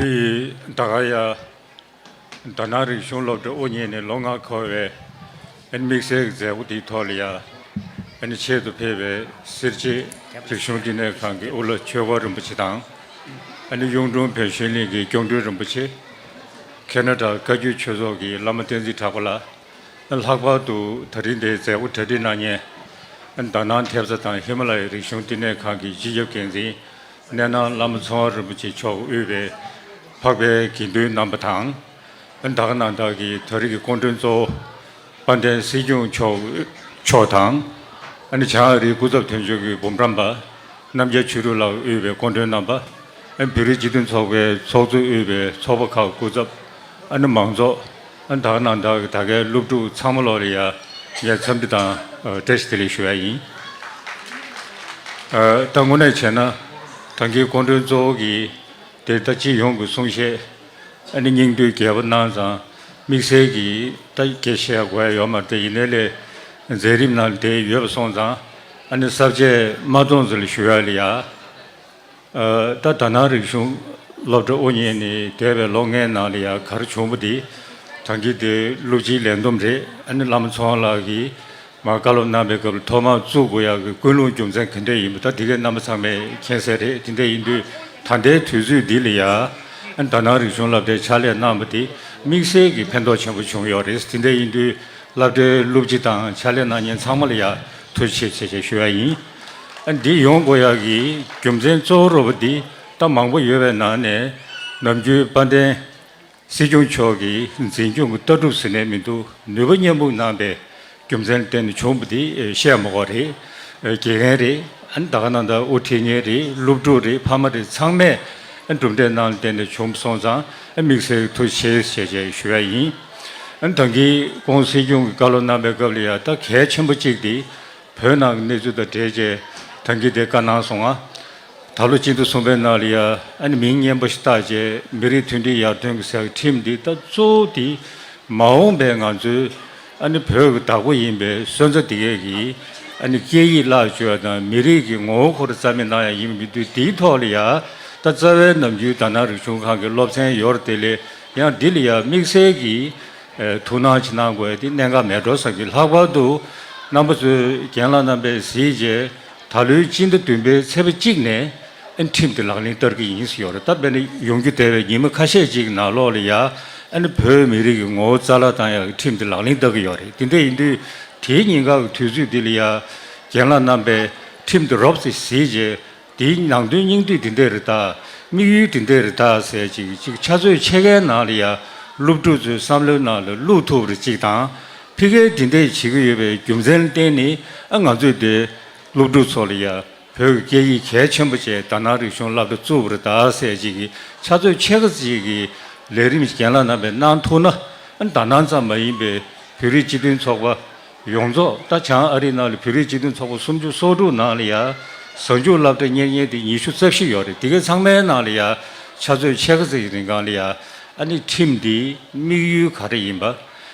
རིགས་བདག་ག་ཡ། རྡ་ནག་རིག་གཞུང་སློབ་གྲྭ་དབུ་བརྙེས་ནས་ལོ་ལྔ་འཁོར་བའི། དམིགས་བསལ་གྱི་མཛད་སྒོ་དེའི་ཐོག་ལ་ཡང། ཆེད་དུ་ཕེབས་པའི་སེར་བྱེས་རིག་གཞུང་བསྟི་གནས་ཁང་གི་དབུ་བླ་ཆོས་སྒོ་རིན་པོ་ཆེ་དང། གཡུང་དྲུང་བོན་གཞོན་གླིང་གི་སྐྱོང་སྤྲུལ་རིན་པོ་ཆེ། ཁེ་ན་ཏྲ་བཀའ་བརྒྱུད་ཆོས་ཚོགས་ཀྱི་བླ་མ་བསྟན་འཛིན་གྲགས་པ་ལགས། ལྷག་པར་དུ་ད་རིང་འདིའི་མཛད་སྒོ་གྲ་སྒྲིག་གནང་མཁན། དར་ནག་མཐེབ་རྩ་དང་ཧི་མ་ལ་ཡའི་རིག་གཞུང་བསྟི་གནས་ཁང་གི་སྤྱི་ཁྱབ་འགན་འཛིན་གནས་ནང་བླ་མ་ཚོང་བ་རིན་པོ་ཆེ་མཆོག་དབུས་པའི་འཕགས་པའི་དགེ་འདུན་རྣམ་པ་དང། བདག་རྣམས་དག་གིས་ད་རེས་ཀྱི་སྐོང་བཀྲོན་གཙོ་བོ་དཔལ་ལྡན་སྲིད་སྐྱོང་མཆོག་དང། བྱང་ཨ་རིའི་སྐུ་ཚབ་དོན་གཅོད་ཀྱི་འབུམ་རམས་པ་རྣམ་རྒྱལ་ཆོས་གྲུབ་ལགས་དབུས་པའི་སྐོང་བཀྲོན་རྣམ་པ། བོད་རིགས་སྤྱི་མཐུན་ཚོགས་པའི་ཚོགས་གཙོ་དབུས་པའི་ཚོགས་པ་ཁག་སྐུ་ཚབ། མང་ཚོགས་བདག་རྣམས་དག་གིས་ད་གའི་སློབ་ཕྲུག་ཚང་མ་ལོ་རེ་ཡར་རྒྱས་འཚམས་འདྲི་དང་བཀྲ་ཤིས་བདེ་ལེགས་ཞུ་བ་ཡིན། ད་དངོས་གནས་བྱས་ན་ད་གའི་སྐོང་བཀྲོན་གཙོ་བོ་གིས་དེ་ལྟ་སྤྱི་ཡོངས་ཀྱི་གསུང་བཤད་ཨ་ནི་སྙིང་རྡུལ་རྒྱས་པོ་སྣང་བཟང་དམིགས་བསལ་གྱིས་ལྟ་དགེ་བཤེས་དགོས་ཡ་ཡོད་མ་རེད་ཡིན་ནའི་ལས་མཛད་རིམ་ན་དེ་ཡོད་པ་སོང་ཙང་ཨ་ནི་གསར་བརྗེ་མ་གཏོང་ཙི་ལ་ཞུ་ཡ་ལི་ཡ། ད་ད་ནང་རིག་གཞུང་སློབ་གྲྭ་དབུ་བརྙེས་ནས་འདས་པའི་ལོ་ལྔའི་ནང་ལི་ཡ་གར་བྱུང་པོ་འདི་དྲང་གི་དེ་ཀླུ་སྤྱིའི་ལས་འདོམས་རེད་ཨ་ནི་བླ་མ་ཚོང་ལགས་ཀྱིས་ང་བཀའ་སློབ་གནང་པའི་སྐབས་ལ་ཐོག་མར་གཙུག་གུ་ཡག་གི་ཀུན་སློང་རྒྱུ་མཚན་ག་འདྲས་ཡིན་པ་ད་འདི་གའི་རྣམ་པ་ཚང་མས་མཁྱེན་གསལ་རེད་དེ་འདྲས་ཡིན་དུས་ད་ལྟའི་དུས་ཚོད་འདི་ལ་ཡང་དག་སྣང་རིག་གཞུང་བསླབ་གྲྭའི་ཕྱག་ལས་གནང་བ་དེ་དམིགས་བསལ་གྱི་ཕན་ཐོགས་ཆེན་པོ་བྱུང་ཡོད་རེད་དེ་འདྲས་ཡིན་དུས་བསླབ་གྲྭའི་སློབ་སྤྱི་དང་ཕྱག་ལས་གནང་ཉན་ཚང་མ་ལ་ཡང་ཐུགས་ཆེ་ཆེ་ཞེས་ཞུ་ཡ་ཡིན། འདི་ཡོང་གུ་ཡག་གི་རྒྱུ་མཚན་གཙོ་བོ་རོ་པ་འདི་ལྟ་མང་པོ་ཡོད་པའི་ནང་ནས་ནམ་རྒྱུན་དཔལ་ལྡན། སྲིད་སྐྱོང་མཆོག་གིས་འཛིན་སྐྱོང་གི་ལྟ་གྲུབ་ཟེར་ནས་མི་འདུག་ནུས་པ་མཉམ་སྤུངས་གནང་པའི་རྒྱུ་མཚན་གཏན་ནས་བྱུང་པ་དེ་བཤད་མ་གོ་རེད། དགེ་རྒན་རེད་ཨ་ད་ག་ནང་ད་དབུ་ཁྲིད་ངན་རེད་སློབ་ཕྲུག་རེད་ཕ་མ་རེད་ཚང་མས་གྲུབ་འབྲས་གནང་གཏན་ནས་བྱུང་མ་སོང་ཙང་དམིགས་བསལ་ཐུགས་ཆེ་བཞེས་བྱས་ཞུ་ཡ་ཡིན། ད་གིན་གོང་སྲིད་སྐྱོང་གི་བཀའ་སློབ་གནང་པའི་སྐབས་ལ་ཡ་ད་གལ་ཆེན་པོ་གཅིག་དེ་བོད་ནང་གི་གནས་ཚུལ་དང་འབྲེལ་བྱས་ད་གིན་དེ་བཀའ་གནང་སོང་ང། ད་ལོ་གཅིག་ཏུ་གསུམ་པའི་ནང་ལ་ཡང་མིང་སྙན་པོ་ཞིག་བཏགས་རྗེས་མི་རིགས་མཐུན་སྒྲིལ་ཡར་ཐོན་གྱི་ཟེར་བའི་ཁྲིམས་འདི་ལྟ་གཙོ་བོ་དེ་མ་འོངས་པའི་ང་ཚོའི་བོད་ཀྱི་བདག་པོ་ཡིན་པའི་སོན་རྩ་དེ་གས་ཀྱི་སྐད་ཡིག་བརླག་བཅོས་བ་དང་མི་རིགས་ཀྱི་ངོ་བོ་འཁོར་རྩ་མེད་གནང་ཡ་ཡིན་པའི་དུས་དེའི་ཐོག་ལ་ཡང་ད་རྩ་བའི་ནམ་རྒྱུན་དར་ནག་རིག་གཞུང་ཁང་གི་སློབ་ཚན་ཡོར་དེ་ལས་ཡང་འདི་ལ་ཡང་དམིགས་བསལ་གྱི་ཐུགས་སྣང་ཅིག་གནང་དགོས་ཏེ་གནད་འགག་མེད་འགྲོ་བསམ་གྱིས་ལྷག་པར་དུ་རྣམ་པ་ཚོས་རྒན་ལགས་རྣམ་པས་གཟིགས་རྗེས། ད་ལོའི་སྤྱི་ཟླ་བདུན་པའི་ཚེས་པ་གཅིག་ནས་ཨན་ཁྲིམས་དེ་ལག་ལེན་བསྟར་གྱི་ཡིན་ཟེར་ཡོད་རེད་ད་བས་ན་ཡོང་རྒྱུ་དལ་བའི་ཉིན་མ་ཁ་ཤས་གཅིག་ནང་ལོག་ལ་ཡ་ཨན་ནི་བོད་མི་རིགས་ཀྱི་ངོ་བོ་རྩ་ལག་དང་ཡ་གི་ཁྲིམས་དེ་ལག་ལེན་བསྟར་གྱི་ཡོད་རེད་དེ་འདྲ་ཡིན་དུས་དེའི་ཉིན་ག་གི་དུས་ཚོད་དེ་ལ་ཡ་རྒན་ལགས་རྣམས་པས་ཁྲིམས་དེ་རོབ་ཙེ་ཟིས་རྗེས་དེའི་ནང་དོན་སྙིང་བསྡུས་དེ་འདྲ་རེད་ད་དམིགས་ཡུལ་དེ་འདྲ་རེད་ད་ཟེར་གཅིག་གཅིག་ཆ་ཚོད་ཕྱེད་ཀའི་ནང་ལ་ཡ་སློབ་ཕྲུག་ཚོའི་བསམ་བློའི་ནང་ལ་བླུག་ཐུབ་རེ་གཅིག་དང། ཕི་གའི་འབྲེལ་འདྲིས་བྱེད་ཀྱི་ཡོད་པའི་རྒྱུ་མཚན་གཏན་ནི་ང་ཚོས་བདེ། སློབ་ཕྲུག་ཚོ་ལ་ཡང་བོད་ཀྱི་སྐད་ཡིག་གལ་ཆེན་པོ་བཅས་དར་ནག་རིག་གཞུང་བསླབ་གྲྭ་གཙོ་བོར་དར་སྲས་གཅིག་གི་ཕྱག་མཛོད་ཆེ་ཁག་ཅིག་གི་ལས་རིམ་གྱེན་ལ་ནང་པའི་གནང་ཐུག་ན་དར་ནག་ཙམ་མ་ཡིན་པའི་བོད་རིགས་སྤྱི་མཐུན་ཚོགས་པ་ཡོངས་རྫོགས་ད་བྱང་ཨ་རིའི་ནང་ལ་བོད་རིགས་སྤྱི་མཐུན་ཚོགས་པ་སུམ་ཅུ་སོ་དྲུག་ནང་ལ་ཡང་གཟའ་མཇུག་བསླབ་གྲྭ་གཉེར་མཁན་དེ་ཉི་ཤུ་རྩ་བཞི་ཡོད་རེད་དེ་གའི་ཚང་མའི་ནང་ལ་ཡང་ཕྱག་མཛོད་ཆེ་ཁག་ཅིག་གི་རིང་གང་ལ་ཡང་ཨ་ནི་ཁྲིམས་འདིའི་དམིགས་ཡུལ་ག་རེ་ཡིན་པ།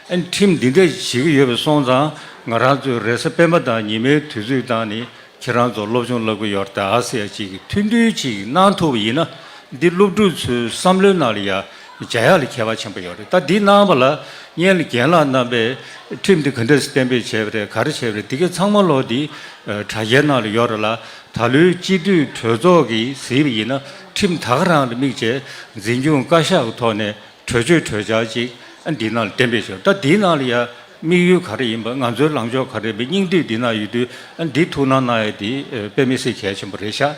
ཨེ་ཁྲིམས་འདི་འདྲ་བྱེད་ཀྱི་ཡོད་པ་སོང་ཙང་ང་རང་ཚོའི་རེས་གཟའ་སྤེན་པ་དང་ཉི་མའི་དུས་ཚོད་དང་ནི་ཁྱེད་རང་ཚོ་སློབ་སྦྱོང་སླབ་ཀྱི་ཡོར་ད་ཨ་སེ་ཡ་གཅིག་གི་མཐུན་འགྲིལ་གཅིག་གནང་ཐུབ་པ་ཡིན་ན་འདི་སློབ་ཕྲུག་ཚོའི་བསམ་བློའི་ནང་ལ་ཡང་འཇའ་ཡག་ལ་ཁྱད་པ་ཆེན་པོ་ཡོད་རེད་ད་འདི་གནང་བ་ལ་བརྙན་ལ་རྒན་ལགས་རྣམ་པས་ཨེ་ཁྲིམས་འདི་ག་འདྲ་སྤེན་པས་བྱས་པ་རེད་ག་རེ་བྱས་པ་རེད་འདི་གའི་ཚང་མ་ལོ་འདི་དྲ་རྒྱའི་ནང་ལ་ཡོར་ལ་ད་ལོའི་སྤྱི་འཐུས་གྲོས་ཚོགས་ཀྱི་གཟིགས་པ་ཡིན་ན་ཁྲིམས་ད་ག་རང་ལ་དམིགས་བྱས་འཛིན་སྐྱོང་བཀའ་ཤག་གི་ཐོག་ནས་གྲོས་ཆོད་གྲོས་འཆར་ཅིག་འདི་ན་གཏན་འབེབས་བྱེད་ད་འདི་ན་ཡང་དམིགས་ཡུལ་ག་རེ་ཡིན་པ་ང་ཚོའི་ལངས་ཕྱོགས་ག་རེ་རེད་སྙིང་བསྡུས་འདི་ན་ཡོད་དུས་འདི་ཐུགས་སྣང་གནང་ཡོད་འདི་དཔེ་མི་སྲིད་གལ་ཆེན་པོ་རེད་ཤག་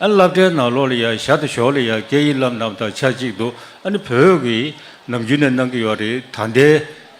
བསླབ་གྲྭའི་ནང་ལོགས་ལ་ཡང་ཞར་དུ་ཞོག་ལ་ཡང་སྐད་ཡིག་བསླབ་རྣམས་དང་ཆ་གཅིག་ཏུ་ནི་བོད་ཀྱི་ནམ་རྒྱུན་ནས་གནང་གི་ཡོད་རེད་ད་འདའི་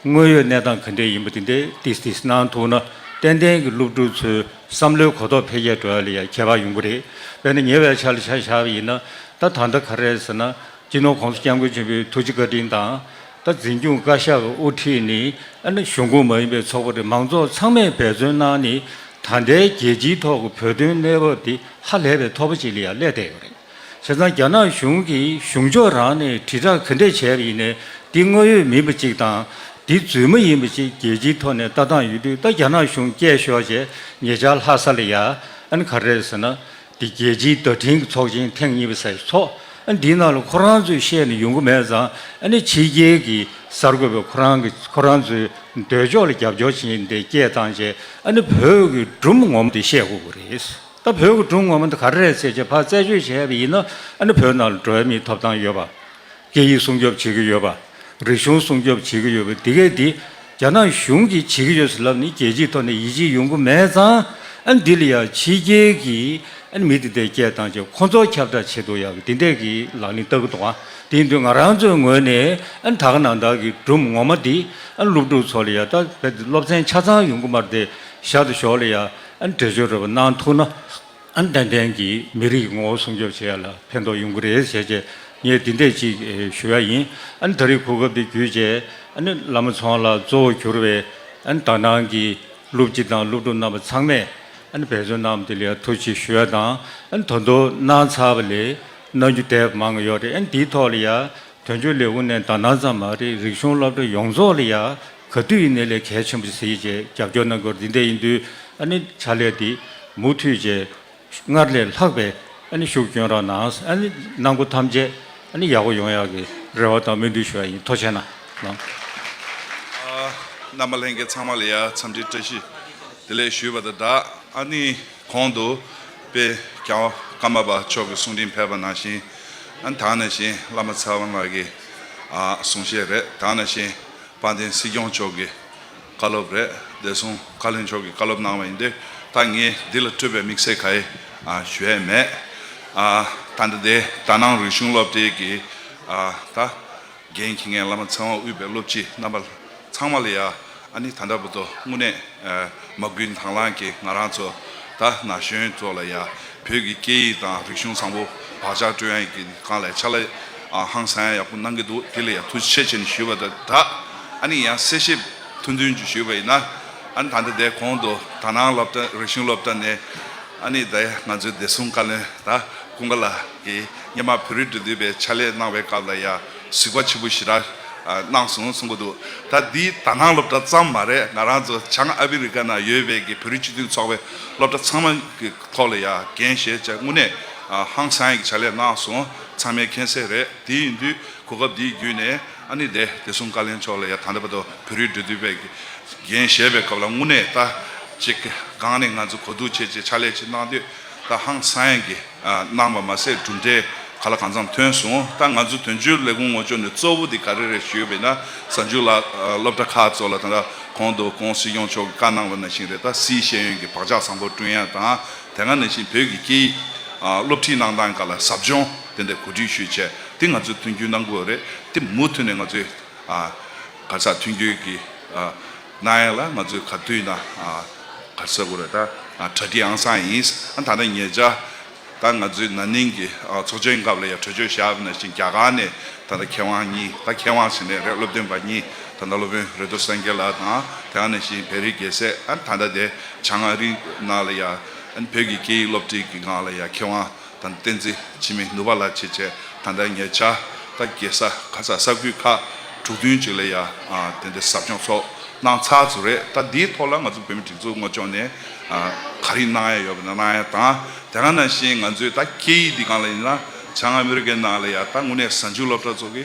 དངོས་ཡོད་གནས་སྟངས་ག་འདྲས་ཡིན་པ་དེ་འདའི་ཏིས་ཏིས་གནང་ཐུགས་ན་ཏན་ཏན་གྱི་སློབ་ཕྲུག་ཚོའི་བསམ་བློའི་གོ་རྟོགས་འཕེལ་རྒྱས་འགྲོ་བ་ལ་ཡང་ཁྱད་པར་ཡོང་གི་རེད་དཔེར་ན་ཉེ་བའི་ཆར་ལ་ཆ་བཞག་པ་ཡིན་ན་ད་ད་ལྟ་ག་རེད་ཟེར་ན་སྤྱི་ནོར་ཁོངས་སུ་སྐྱབས་མགོན་ཆེན་པོའི་ཐུགས་རྗེ་བཀའ་དྲིན་དང། ད་འཛིན་སྐྱོང་བཀའ་ཤག་གི་དབུ་ཁྲིད་ནི་ཨ་ནེ་གཞུང་ཁོངས་མ་ཡིན་པའི་ཚོགས་པ་རེད་མང་ཚོགས་ཚང་མས་འབད་བརྩོན་གནང་ནི་ད་ལྟའི་རྒྱལ་སྤྱིའི་ཐོག་གི་བོད་དོན་གནས་བབ་དེ་ཧ་ལས་པའི་ཐོབ་པ་ཅིག་ལ་ཡང་སླེབས་བསྡད་ཡོད་རེད། བྱས་ཙང་རྒྱ་ནག་གཞུང་གིས་གཞུང་ཕྱོགས་རང་ནས་དྲིལ་བསྒྲགས་ག་འདྲས་བྱས་པ་ཡིན་ནས་འདི་དངོས་ཡོད་མིན་པ་ཅིག་དང། འདི་རྫུན་མ་ཡིན་པ་ཅིག་རྒྱལ་སྤྱིའི་ཐོག་ནས་ལྟ་སྟངས་ཡོད་དུས་ད་རྒྱ་ནག་གཞུང་སྐྱས་ཤོག་ཅེས་ངེད་ཅག་ལྷ་ས་ལ་ཡ་ཨ་ནེ་ག་རེ་རེད་ཟེར་ན་འདི་རྒྱལ་སྤྱིའི་བརྡ་འཕྲིན་གྱི་ཚོགས་ཆེན་ཐེངས་གཉིས་པ་ས་ཡི་ཚོགས་འདིའི་ནང་ལ་ཁོ་རང་ཚོས་བཤད་ནས་ཡོང་གི་མེད་ཙང་ཕྱི་རྒྱལ་གྱི་གསར་འགོད་པས་ཁོ་རང་གིས་ཁོ་རང་ཚོའི་འདོད་ཕྱོགས་ལ་རྒྱབ་སྐྱོར་བྱེད་འདི་སྐད་བཏང་རྗེས་བོད་ཀྱི་སྒྲུང་ངོམ་འདི་བཤད་དགོས་ཀྱི་རེད། ད་བོད་ཀྱི་སྒྲུང་ངོམ་འདི་ག་རེ་རེད་ཟེར་རྗེས་ཕར་རྩད་གཅོད་བྱས་པ་ཡིན་ན་བོད་ནང་ལ་འགྲོ་ཡ་མིའི་ཐོབ་ཐང་ཡོད་པ་སྐད་ཡིག་སྲུང་སྐྱོབ་བྱེད་ཀྱི་ཡོད་པ། རིག་གཞུང་སྲུང་སྐྱོབ་བྱེད་ཀྱི་ཡོད་པ་དེ་གས་འདི་རྒྱ་ནག་གཞུང་གིས་བྱེད་ཀྱི་ཡོད་ཟེར་ལབ་ནི་རྒྱལ་སྤྱིའི་ཐོག་ནས་ཡིད་ཆེས་ཡོང་གི་མེད་ཙང། འདི་ལ་ཡང་ཕྱི་རྒྱལ་གྱི་མི་དེ་འད་སྐད་དང་བཅས་ཁོ་ཚོ་ཁྱབ་བསྒྲགས་བྱེད་དུ་ཡང་འདི་འད་ཀྱི་ལག་ལེན་བསྟར་གི་འདུག་དེ་འདུག་ང་རང་ཚོའི་ངོས་ནས་དག་ནང་དག་གི་སྒྲུབ་ངོ་མ་འདི་སློབ་ཕྲུག་ཚོ་ལ་ཡང་ད་གས་འདི་སློབ་ཚན་ཆ་ཚང་ཡོང་གི་མ་རེད་དེ་ཞག་ཏུ་ཞོགས་ལ་ཡང་འགྲེལ་བརྗོད་རེ་བ་གནང་ཐུག་ན། ཨན་ཏན་ཏན་གྱིས་མི་རིགས་ཀྱི་ངོ་བོ་སྲུང་སྐྱོབ་བྱེད་ཡ་ལ་ཕན་ཐོགས་ཡོང་གི་རེད་ཟེར་རྗེས་ངས་འདི་འད་ཅིག་ཞུ་ཡ་ཡིན་ཨན་ད་རིགས་གོ་སྐབས་དེ་བརྒྱུད་རྗེས་ཨན་བླ་མ་ཚང་ལ་གཙོ་བོ་གྱུར་བའི་ཨན་དག་སྣང་གི་སློབ་སྤྱི་དང་སློབ་ཕྲུག་རྣམ་པ་ཚང་མས་ཨན་འབད་བརྩོན་གནང་བ་དེ་ལ་ཡ་ཐུགས་ཆེ་ཞུ་ཡ་དང་ཨན་ད་དུ་གནང་ཚར་བ་ལས་གནང་རྒྱུ་དད་པ་མང་ཡོད་རེད་ཨན་དེའི་ཐོག་ལ་ཡ་དོན་གཅོད་ལས་དབུ་ནན་དག་སྣང་ཙམ་མ་རེད་རིག་གཞུང་སློབ་གྲྭ་ཡོངས་རྫོགས་ལ་ཡ་ག་དུས་ཡིན་ནས་ལས་གལ་ཆེན་པོ་ཞིག་བྱེད་ཅེས་རྒྱབ་སྐྱོར་གནང་སྐོར་འདི་འདྲ་ཡིན་དུས་ཨ་ནི་བྱ་ལས་འདི་མུ་མཐུད་བྱས། སྔར་ལས་ལྷག་པའི་ཨ་ནི་ཤུགས་སྐྱོན་རག་ནའང་ཨ་ནི་གནང་སྒོ་ཐམས་ཅད་ཨ་ནི་ཡག་པོ་ཡོང་ཡག་གི་རེ་བ་དང་སྨོན་འདུན་ཞུ་བ་ཡིན་མཐོ་ཆེ་ན། རྣམ་པ་ལྷན་རྒྱས་ཚང་མ་ལ་ཡང་འཚམས་འདྲིའི་བཀྲ་ཤིས་བདེ་ལེགས་ཞུས་པ་དང་སྦྲགས་ཨ་ནི་གོང་དུ་དཔེ་རྒྱང་ཀརྨ་པ་མཆོག་གི་གསུང་འཕྲིན་ཕེབས་པ་ནང་བཞིན་ཨ་ནི་དྭངས་ནས་བཞིན་བླ་མ་ཚེ་དབང་ལགས་ཀྱི་གསུང་བཤད་རེད་དྭངས་ནས་བཞིན། དཔལ་ལྡན་སྲིད་སྐྱོང་མཆོག་གི་བཀའ་སློབ་རེད་བདེ་སྲུང་བཀའ་བློན་མཆོག་གི་བཀའ་སློབ་གནང་བ་ཡིན་དུས་ད་ངས་འདི་ལ་སྤྲོད་པའི་དམིགས་བསལ་ག་ཡེ་ཞུ་ཡས་མེད། ད་འདི་ལྟའི་དག་སྣང་རིག་གཞུང་སློབ་གྲྭའི་གི་ད་རྒན་གྱི་ངའི་བླ་མ་ཚེ་དབང་དབུས་པའི་སློབ་སྤྱི་རྣམ་པ་ཚང་མ་ལ་ཡ་ཨ་ནི་ད་འདྲ་བུ་དོ་དངོས་གནས་མ་དགུན་དྭང་བླང་གི་ང་རང་ཚོ་ད་ན་གཞོན་ཚོ་ལ་ཡ་བོད་ཀྱི་སྐད་ཡིག་དང་རིག་གཞུང་བཟང་པོ་བག་ཆགས་སྤྲོད་ཡ་ཡིན་གི་གང་ལས་ཆ་ལ། ཨ་ཧང་ས་ཡང་ཡག་པོ་གནང་གི་འདུག་དེ་ལ་ཡང་ཐུགས་རྗེ་ཆེ་ཆེ་ནས་ཞུ་བ་དང་སྦྲགས་ཨ་ནི་ཡང་གསལ་བཤད་ཐུང་ཐུང་ཅིག་ཞུས་པ་ཡིན་ན། ཨ་ནི་ད་ལྟ་དེའི་གོང་དུ་དག་སྣང་སློབ་གྲྭ་རིག་གཞུང་སློབ་གྲྭ་ནས་ཨ་ནི་ད་ཡ་ང་ཚོའི་བདེ་སྲུང་བཀའ་བློན་དྭ་ཀུན་དགའ་ལགས་ཀྱིས་སྙེ་མ་བོད་རིགས་འབྲུ་འདུས་པའི་ཕྱག་ལས་གནང་བའི་སྐབས་ལ་ཡང་གཟིགས་པ་ཆེན་པོ་ཞིག་རག་གནང་སོང་གསུང་གི་འདུག་ད་འདི་དག་སྣང་སློབ་གྲྭ་ཙམ་མ་རེད་ང་རང་ཚོ་བྱང་ཨ་ཕི་རི་ཀ་ནང་ཡོད་པའི་གི་བོད་རིགས་སྤྱི་མཐུན་ཚོགས་པའི་སློབ་གྲྭ་ཚང་མ་གི་ཐོག་ལ་ཡང་འགན་བཞེས་བྱ་དངུ་ནས་ཨ་ཧང་ས་ཡང་གི་ཕྱག་ལས་གནང་སོང། ཚང་མའི་མཁྱེན་གསལ་རེད་དེ་ཡིན་དུས་གོ་སྐབས་འདི་བརྒྱུད་ནས་ཨ་ནི་དེ་དེ་གསུམ་ཀ་ལེན་ཆོག་ལ་ཡ་ད་ནི་བ་དོ་བོད་རིགས་འབྲེལ་མཐུད་པས་རྒྱན་བཞེས་པའི་སྐབས་ལ་དངུལ་གནས་ལྟ་ཅིག་སྒང་ནས་ང་ཚོ་གོ་བསྡུར་བྱེད་ཅེས་ཕྱག་ལས་ཅིག་གནང་དུས་ད་ཧང་སངས་ཀྱིས་གནང་བ་མ་ཟད་གྲུབ་འབྲས་ག་ལ་གང་འཚམས་ཐོན་སོང་ད་ང་ཚོ་དོན་གཅོད་ལས་ཁུངས་ངོ་ཅོག་ནས་གཙོ་བོ་དེ་ག་རེ་རེད་ཞུས་པས་ན་གཟའ་མཇུག་ལ་སློབ་གྲྭ་ཁག་གཙོ་ལ་ད་གོང་དུ་ཀོང་སི་སྐྱོང་མཆོག་གིས་བཀའ་གནང་བ་ན་ཤིང་རེད་ད་སིའི་ཤེས་ཡོན་གྱི་བག་ཆགས་བཟང་པོ་བསྐྲུན་ཡ་དང་དེ་སྔ་ནས་བཞིན་བོད་ཀྱི་སྐད་ཡིག་སློབ་ཁྲིད་གནང་སྟངས་འགའ་ལ་ཟབ་སྦྱོང་དེ་འདྲ་གོ་སྒྲིག་ཞུས་བྱས་དེ་ང་ཚོས་མཐུན་འགྱུར་གནང་དགོས་རེད་དེ་མུ་མཐུད་ནས་ང་ཚོས་གར་སར་མཐུན་འགྱུར་གྱི་གནང་ཡག་ལ་ང་ཚོས་ག་དུས་ན་གར་སར་དགོས་རེད་ད་གྲ་སྒྲིག་ཨང་སང་ཡིན་ད་ལྟ་ངེད་ཅག་ད་ང་ཚོའི་ན་ནིང་གི་ཚོགས་ཆེན་སྐབས་ལ་ཡང་གྲོས་ཆོད་བཞག་ན་བཞིན་རྒྱ་གར་ནས་ད་ལྟ་མཁས་དབང་གཉིས་ད་མཁས་དབང་ཟེར་ནས་རེད་སློབ་སྟོན་པ་གཉིས་ད་ལྟ་སློབ་དཔོན་རེ་ཏོ་སངས་རྒྱས་ལགས་དང་དེ་སྔ་ནས་བཞིན་བེ་རི་རྒྱལ་སྲས་ད་ལྟ་དེ། བྱང་ཨ་རིའི་ནང་ལ་ཡང་བོད་ཀྱི་སྐད་ཡིག་སློབ་ཁྲིད་ཀྱི་ངང་ལ་ཡང་མཁས་དབང་དང་བསྟན་འཛིན་འཆི་མེད་ནུབ་བ་ལགས་ཆེད་ཆེད་ད་ལྟ་ངེད་ཅག་ལྟ་གེ་ས་ག་ས་ས་ཁུལ་ཁག་དྲུག་བདུན་ཅིག་ལ་ཡང་དེ་འདྲའི་ཟབ་སྦྱོང་ཚོགས་གནང་ཚར་ཚུལ་རེད་ད་འདིའི་ཐོག་ལ་ང་ཚོ་བོད་མི་སྒྲིག་འཛུགས་དངོས་ཕྱོགས་ནས་ག་རིགས་གནང་ཡ་ཡོད་པ་ན་གནང་ཡ་དང་དེ་ག་ནང་བཞིན་ང་ཚོའི་ད་སྐད་ཡིག་འདི་གང་ལ་ཡིན་ན་བྱང་ཨ་མི་རི་ཀའི་ནང་ལ་ཡང་ད་དངོས་གནས་གཟའ་མཇུག་སློབ་གྲྭ་ཚོགས་ཀྱི་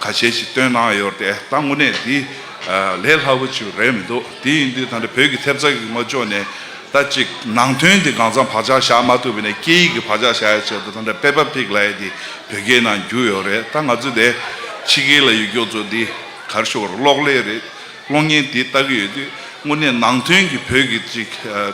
ཁ་ཤས་ཀྱིས་བཏོན་གནང་ཡོད་རེད་ད་དངོས་གནས་འདི་ལས་སླ་བོ་ཅིག་རེད་མི་འདུག་དེ་ཡིན་དུས་ད་ལྟ་བོད་ཀྱི་ཐེབས་རྩ་གི་ངོ་ཅོག་ནས་ད་ཅིག་ནང་དོན་འདི་གང་ཚང་བག་ཆགས་བཞག་མ་ཐུབ་པ་ནས་སྐད་ཡིག་གི་བག་ཆགས་བཞག་ཡ་ཆེད་དུ་ད་ལྟ་པེ་པ་ཕིག་ལའེ་འདི་བོད་སྐད་ནང་བསྒྱུར་ཡོད་རེད་ད་ང་ཚོ་འདས་ཕྱི་སྐད་ལ་ཡུལ་སྐྱོག་ཚོ་འདི་གར་ཤོར་གློག་ཀླད་རེད་གློག་བརྙན་འདི་ལྟ་གི་ཡོད་དུས་དངོས་གནས་ནང་དོན་གྱི་བོད་ཀྱི་ཅིག་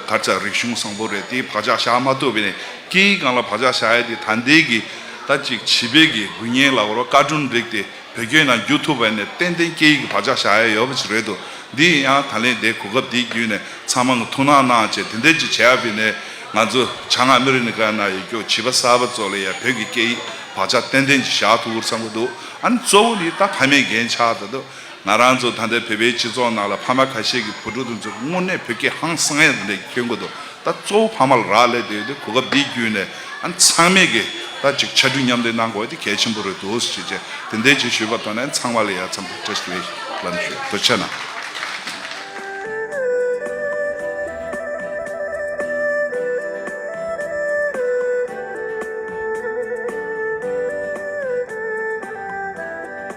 གར་ཚ་རིག་གཞུང་བཟང་པོ་རེད་དེའི་བག་ཆགས་བཞག་མ་ཐུབ་པ་ནས་སྐད་ཡིག་གང་ལ་བག་ཆགས་བཞག་ཡ་འདི་ད་འདས་ཀྱི། ཟླ་གཅིག་བྱིས་པའི་གི་དགུན་གཉེན་ལ་བོར་བ་བཀའ་དྲུང་རིགས་ཏེ་བོད་སྐད་ནང་བསྒྱུར་ཐུབ་པ་ནི་ཏན་ཏན་སྐད་ཡིག་གི་བག་ཆགས་བཞག་ཡ་ཡོད་པ་ཞིག་རེད་འདུག་འདི་ཡིན་ཡང་ད་ལན་དེའི་གོ་སྐབས་འདི་བརྒྱུད་ནས་ཚང་མ་ངོ་ཐུག་གནང་གནང་བྱས་དེ་འདྲས་ཅིག་བྱས་ཡ་བི་ནས་ང་ཚོ་བྱ་ངག་མི་རི་ནི་ཀ་ན་ཡོད་སྐྱོ་བྱིས་པ་གསར་པ་ཚོ་ལ་ཡང་བོད་ཀྱི་སྐད་ཡིག་བག་ཆགས་ཏན་ཏན་ཅིག་བཞག་ཐུབ་འུར་ཚང་གི་འདུག་ཨ་ནི་གཙོ་བོ་ནི་ད་ཕ་མའི་འགན་ཆགས་ད་དུ། ང་རང་ཚོ་ད་ལྟའི་བོད་པའི་སྤྱི་ཚོགས་ནང་ལ་ཕ་མ་ཁ་ཤས་ཀྱི་བུ་ཕྲུག་དེ་ཚོ་དངོས་གནས་བོད་སྐད་ཧང་སངས་ཡག་དེ་འདྲ་ཁྱོད་གོ་འདུག་ད་གཙོ་བོ་ཕ་མ་ལ་རག་ལས་དེ་ཡོད་དེ་གོ་སྐབས་འདི་བརྒྱུད་ནས་ཨ་ཚང་མས་ཀྱི་ད་ཅིག་ཕྱ་གྲུ་མཉམ་ལས་གནང་དགོས་དེ་གལ་ཆེན་པོ་རེད་འདུག་ཅེས་བཅས་དེ་འད་ཅེས་ཞུས་པར་དོ་ནས་ཨ་ཚང་མ་ལ་ཡ་ཚང་བོད་ཀྲེ་སི་ལེ་ལམ་ཞུ་དོ་ཆེ་ན།